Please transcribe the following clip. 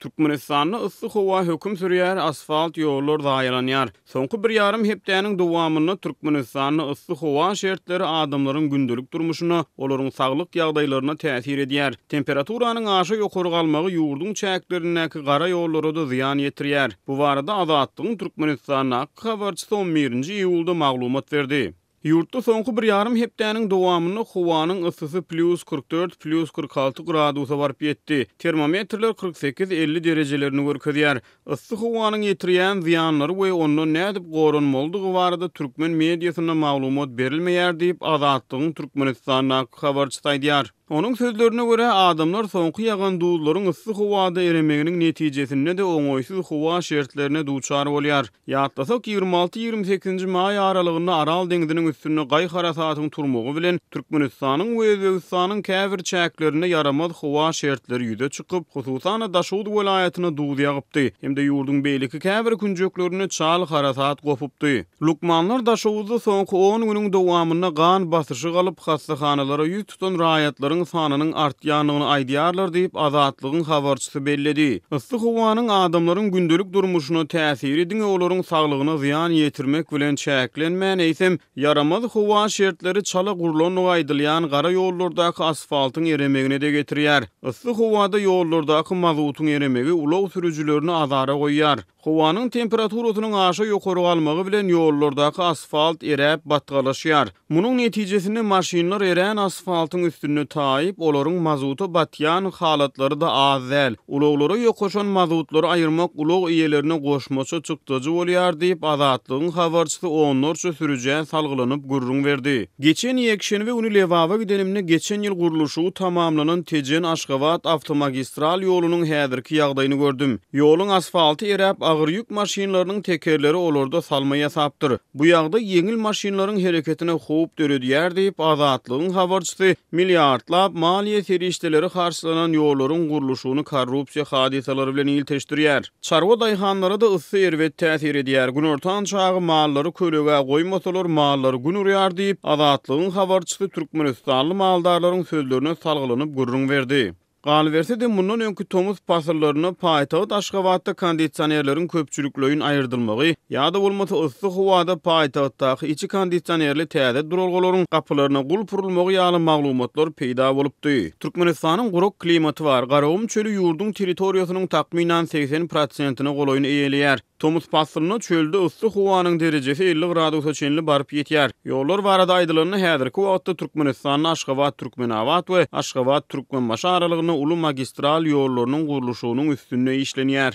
Türkmenistanda yssy howa höküm sürýär, asfalt ýollar zaýalanýar. Soňky bir ýarym hepdäniň dowamynda Türkmenistanda yssy howa şertleri adamlaryň gündelik durmuşyna, olaryň saglyk ýagdaýlaryna täsir edýär. Temperaturanyň aşa ýokary galmagy ýurduň çäklerindäki gara ýollara-da zyýan ýetirýär. Bu barada Azatlygyň Türkmenistandaky habarçysy on birinji iýulda maglumat berdi. Ýurtda soňky bir ýarym hepdäniň dowamynda howanyň yssysy plýus kyrk dört, plýus kyrk alty gradusa baryp ýetdi. Termometrler kyrk sekiz, elli derejelerini görkezýär. Yssy howanyň ýetirýän zyýanlary we ondan nädip goranmalydygy barada türkmen mediasynda maglumat berilmeýär diýip, Azatlygyň Türkmenistandaky habarçysy aýdýar. Onuň sözlerine görä, adamlar soňky ýagan duzlaryň yssy howada eremeginiň netijesinde-de oňaýsyz howa şertlerine duçar bolýar. Ýatlasak, ýigrimi alty-ýigrimi sekizinji maý aralygynda Aral deňziniň üstünde gaý harasatyň turmagy bilen, Türkmenistanyň we Özbegistanyň käbir çäklerinde ýaramaz howa şertleri ýüze çykyp, hususan-da, Daşoguz welaýatyna duz ýagypdy hem-de ýurduň beýleki käbir künjeklerinde çal harasat gopupdy. Lukmanlar Daşoguzda soňky on günüň dowamynda gan basyşy galyp, hassahanalara ýüz tutan raýatlaryň sanynyň artýandygyny aýdýarlar diýip, Azatlygyň habarçysy belledi. Yssy howanyň adamlaryň gündelik durmuşyna täsiri diňe olaryň saglygyna zyýan ýetirmek bilen çäklenmän, eýsem, ýaramaz howa şertleri çala gurlandygy aýdylýan gara ýollardaky asfaltyň eremegine-de getirýär. Yssy howada ýollardaky mazutyň eremegi ulag sürüjilerini azara goýýar. Howanyň temperaturasynyň aşa ýokary galmagy bilen ýollardaky asfalt eräp, batgalaşýar. Munuň netijesinde maşynlar erän asfaltyň üstünde taýyp, olaryň mazuta batýan halatlary-da az däl. Ulaglara ýokaşan mazutlary aýyrmak ulag eýelerine goşmaça çykdajy bolýar diýip, Azatlygyň habarçysy onlarça sürüjä salgylanyp gürrüň berdi. Geçen ýekşenbe güni Lebaba gidenimde geçen ýyl gurluşygy tamamlanan Tejen-Aşgabat awtomagistral ýolunyň häzirki ýagdaýyny gördüm. Ýoluň asfalty eräp, agyr ýük maşynlarynyň tekerleri olarda salma ýasapdyr. Bu ýagdaý ýeňil maşynlaryň hereketine howp döredýär diýip, Azatlygyň habarçysy milliardlap maliýe serişdeleri harçlanan ýollaryň gurluşygyny korrupsiýa hadysalary bilen ilteşdirýär. Çarwa daýhanlara-da yssy erbet täsir edýär. Günortan çagy mallary kölegä goýmasalar, mallar gün urýar diýip, Azatlygyň habarçysy türkmenistanly maldarlaryň sözlerine salgylanyp gürrüň berdi. Galyberse-de, mundan öňki tomus pasyllarynda paýtagt Aşgabatda kondisionerleriň köpçülikleýin aýyrdylmagy ýa-da bolmasa yssy howada paýtagtdaky içi kondisionerli täze duralgalaryň gapylaryna gulp urulmagy ýaly maglumatlar peýda bolupdy. Türkmenistanyň gurak klimaty bar. Garagum çöli ýurduň territoriýasynyň takmynan segsen prosentine golaýyny eýeleýär. Tomus paslynda çölde yssy howanyň derejesi elli gradusa çenli baryp ýetýär. Ýollar barada aýdylanda häzirki wagtda Türkmenistanda Aşgabat Türkmenabat we Aşgabat Türkmenbaşy aralygynda uly magistral ýollarynyň gurluşygynyň üstünde işlenýär.